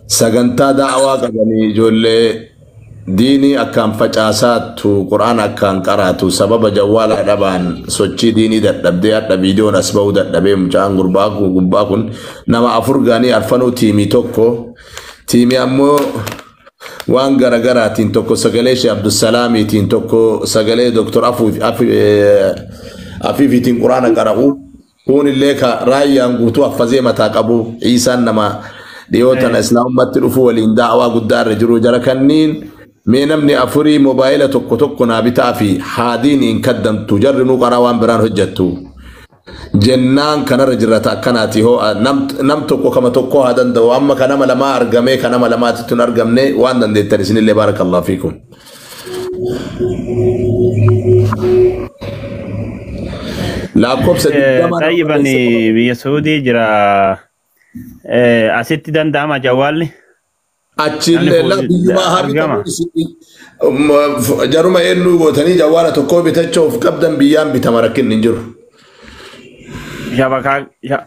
sagantaa da'awaa qabanii ijoollee diinii akkaan facaasaattu quraan akkaan qaraatu sababa jawwaalaa dhabaan sochii diinii dadhabdee hadha viidiyoon as ba'uu dadhabee mucaan gurbaa kun gubbaa kun nama afur gaanii arfanuu tiimii tokko tiimii ammoo waan garagaraatiin tokko sagalee shee abdusalaamiitiin tokko sagalee doktor afiifiitiin quraana qara'u Kuun illee ka raayyaan guutuu haffazee mataa qabu Iisaan nama dhiyoo tana islaamummatti dhufuu waliin daawaa guddaa irra jiru jara kanniin mee namni afurii mobaayila tokko tokko naa bitaa fi haadiin hin kaddantu jarri nuu qaraa waan biraan hojjattu jennaan kanarra jirrata akkanaati hoo nam tokko kama tokko haa danda'u amma ka nama lamaa argamee ka nama lamaatitti hin argamne waan dandeettan isinillee baarakallahu fiikum. Lakkoofsa Eh, digdama irra Xayyiban barreessa qofa. biyya Suudii jira. Eh, Asitti danda'ama jawwaalli. Namni Achiillee fuudhi- laa biyyumaa haa argama. bitamu isin um, f- jaruma eenyuu gootanii jawwaala tokkoo bitachuu of qabdan biyyaan bitama rakkinni hin jiru. Shabakaa sha-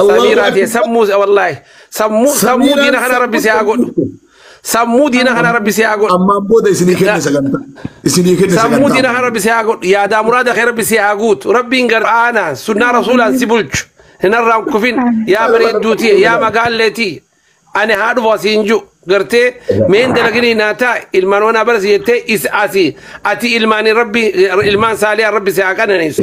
Allahu Samiiraa tee akbar. sammuu wallaahi sammuu sammuu Samiiraan diina kana rabbi si haa godhu. sammuu Sammuu diina kana rabbi si haa godhu. Ammaan booda isinii kenna Na- sagantaa. Isinii kenna Sammuu sagantaa. diina kana rabbi si haa godhu. Yaadaa muraada kee rabbi si haa guutu. Rabbiin gara aanaan sunnaa rasuulaan si bulchu. Hin harraan kufin yaa bareedduu tiyya yaa magaallee tiyya. Ani haa dhufu asii hin jiru. Gartee meen dalaginii naa taa ilmaan wanaa bara si jettee is asii ati ilmaanii rabbi ilmaan saaliyaa rabbi si haa qananiisu.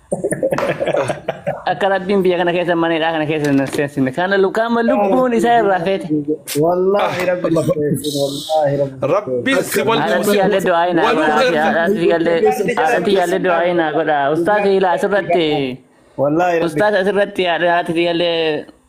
Akka rabbiin biyya kana keessa mana hidhaa kana keessa hin seensifne. Kana lukaama lubbuun isaa irraa feete. Wallaahi rabbi na keessin wallaahi rabbi. Rabbiin si wal Haadhatti yaallee du'aa hin waluu haadha. keessa. Haadhatti yaallee haadhatti yaallee du'aa hin haadha. Ustaas Hiilaa asirratti. Wallaahi rabbi. Ustaas asirratti haadhatti yaallee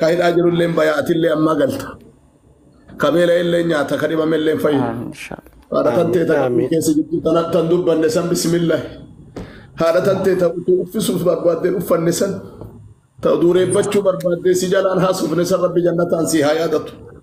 Ka hidhaa jirulleen baya atillee ammaa galta. Ka beela'ellee nyaata ka dhibamellee fayyina. Amiin inshallah. Haadha tan Amiin, ta'e takka amiin. keessa jirtu tana tan dubbanne san bisimillahi. Haadha tan ta'e ta'u utuu uffisuuf barbaaddeen uffanne san ta'u duureeffachuu barbaaddee si jalaan haasofne san rabbi jannataan si haa yaadatu.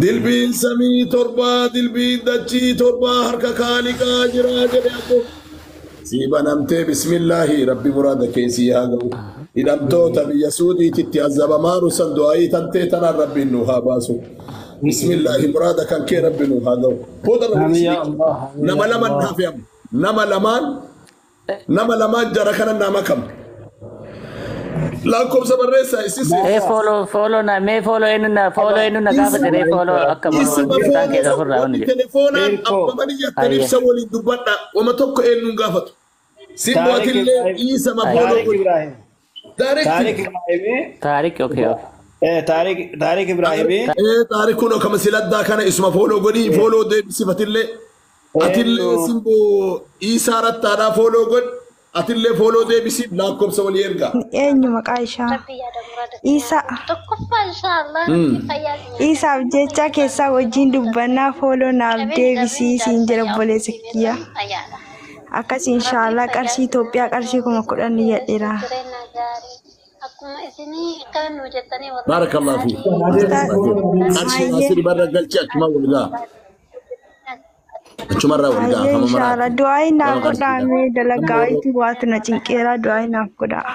Dilbiin samii torbaa dilbiin dachii torbaa harka kaaliqaa jiraa jedhe abbo. Sii banamtee bismillaahi rabbi muraada kee sii haa ga'u. Hidhamtoota biyya suudiititti azabamaaru san du'aayii tantee tanaan rabbiin nu haa baasu. Bismillaahi muraada kan kee rabbi nu haa ga'u. Booda Amin ya Allah. Nama laman hafe amma. Nama lamaan Nama lamaa jara kana naa makamu. Lakkoofsa barreessaa issi seera. Mee fooloo fooloo na mee fooloo eenyu na fooloo eenyu na gaafate mee fooloo akka morma Isuma jirtaan keessa fooloo ofirraa wanni wanni jedhu. telefoonaan Erkoo. abbaman iyyattan Ayya. ibsa waliin dubbadha. Wama tokko eenyuun gaafatu. Simmoo Taarik atillee Ibrahim. dhiisama fooloo Taarik godhi. Ibrahim. Taarik Taarik Ibraahimii Taarik okay okay. eh, Taarik Taarik Ibraahimii ee taarik kun akkama siladdaa kana isuma fooloo godhii fooloo deebisifatillee atillee Eenyu? simboo iisaa rattaadhaa fooloo godhi atillee fooloo deebisiif lakkoofsa walii ergaa. Eenyu maqaa ishaa? Rabbii yaada muraada Isa. siyaa. Tokkoffaa inshaallah rabbii fayyaa siyaa. Isaaf jecha keessaa wajjin dubbannaa fooloo naaf deebisii siin jedha obboleessa kiyya. Fayyaadha. Akkas inshaallah qarshii Itoophiyaa qarshii kuma kudhan niyyadhera. Jireenya gaarii akkuma isinii kan nu jettanii warra Barakallah fi. Ustaaz Arshii Ayyee. asiri barra galchi achuma wal gaa. Achuma irraa wal gaa. Ayyee Hamama inshaallah du'aayi naaf godhaa mee dalagaa itti waatu na cinqeera du'aayi naaf godhaa.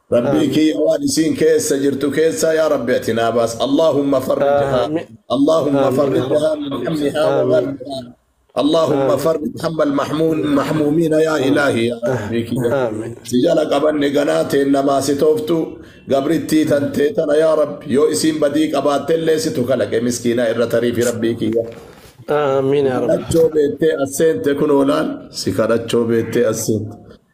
Rabbii Aamiin. kiyya waan isiin keessa jirtu keessaa yaa Rabbi ati naa baas. Allaahumma farrijhaa. Aamiin. Allaahumma Aamiin yaa farrijhaa Rabbi. min hammihaa wa Aamiin. ghammihaa. Allaahumma Aamiin. farrij hamma almahmuun mahmuumiina yaa Aamiin. ilaahi yaa Rabbii kiyya. Aamiin. Si jala qabanne ganaa teen namaa si tooftu gabrittii tan tee tana yaa Rabbi yoo isiin badii qabaatte illee situ kalaqe miskiina irra tariifi Rabbii kiyya. Aamiin yaa Rabbi. Kadhachoo beettee as seente kunoo laal si kadhachoo beettee as seente.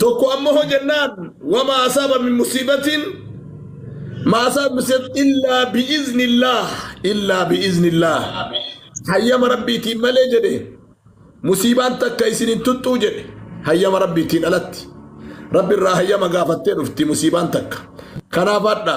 tokko amma hoo jennaan wama asaaba min musiibatiin ma asaaba min musiibatiin illaa bi'iznillah illaa bi'iznillah hayyama rabbiitiin malee jedhe musiibaan takka isin hin tuttuu jedhe hayyama rabbiitiin alatti rabbi irraa hayyama gaafattee dhufti musiibaan takka kanaaf hadha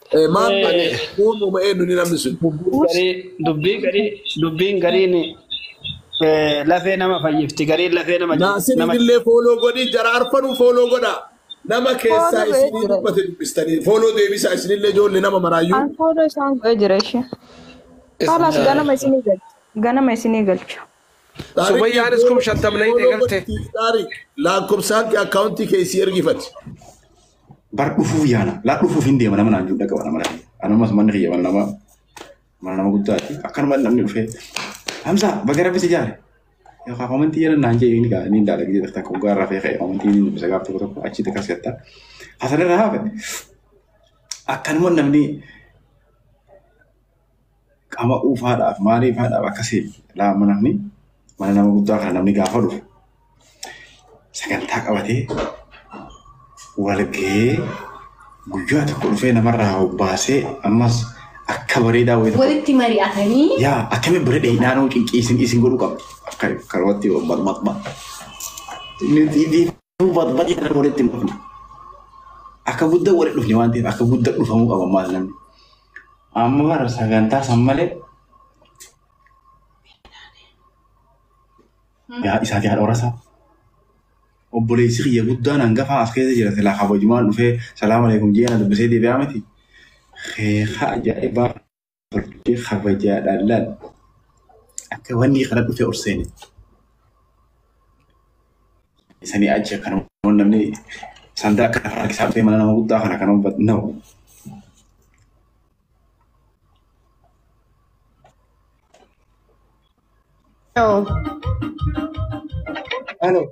Maal uumuma eenyuun namni sun? Dubbii garii dubbiin gariin lafee nama fayyifti gariin lafee nama Naasiriin illee fooloo godhi jara arfanuu fooloo godha. Nama keessaa Fooloo isinii beekna. dubbate dubbistanii fooloo deebisaa isinillee ijoollee nama maraayyuu. An fooloo isaan godhee jira ishee. Kaalaas ganama isinii galcha. Ganama isinii galcha. Sumayyaanis kum shantam na hidhe galte. Laakkobsaan kee akkaawuntii kee isii ergifati. Bar dhufuuf yaala. Laa dhufuuf hin deema nama naan jiru dhaqa mana mana. Anumas manni kiyya mana nama mana nama guddaati. Akkanuma namni dhufee. Hamza baga rabbi si jaare. Yookaan komentii jedhan naan jedhee inni gaa inni daala gidee dhaqta kun gaara rafee ka'e komentii inni dubbisa gaaf tokko tokko achi takka si hatta. Hasan irraa hafe. Akkanuma namni qama dhuufaadhaaf maaliifaadhaaf akka seenu laama namni mana nama guddaa kana namni gaafa dhufu sagantaa qabatee walga'ee guyyaa tokko dhufee namarraa hobbaasee ammas akka bareedaa wayii tokko Walitti mari'atanii yaa akkamiin bira dheeyinaa nama cinqii isin isin godhuu qabdi akka karooti barbaadma barbaad irra walitti hin dhufne akka guddaa walitti dhufne waan ta'eef akka guddaa dhufamuu qaba maal namni Amma bara sagantaa san malee yaa isaa yaa dhoorasaa. Obboleessi kiyya guddaan hangafaa as keessa jira silaa kabajumaan dhufee salaamu alaikum jee na dubbisee deebi'aa miti. Keekaa ajaa'ibaa hojii kabajaadhaan laal. Akka wanni kana dhufee ol seene. Isanii achi akkana waan namni sandaa akka lafa harkisaa dhufee mana nama guddaa kana kana hubatu no. Hello, Hello,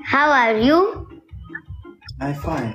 how are you? I'm fine.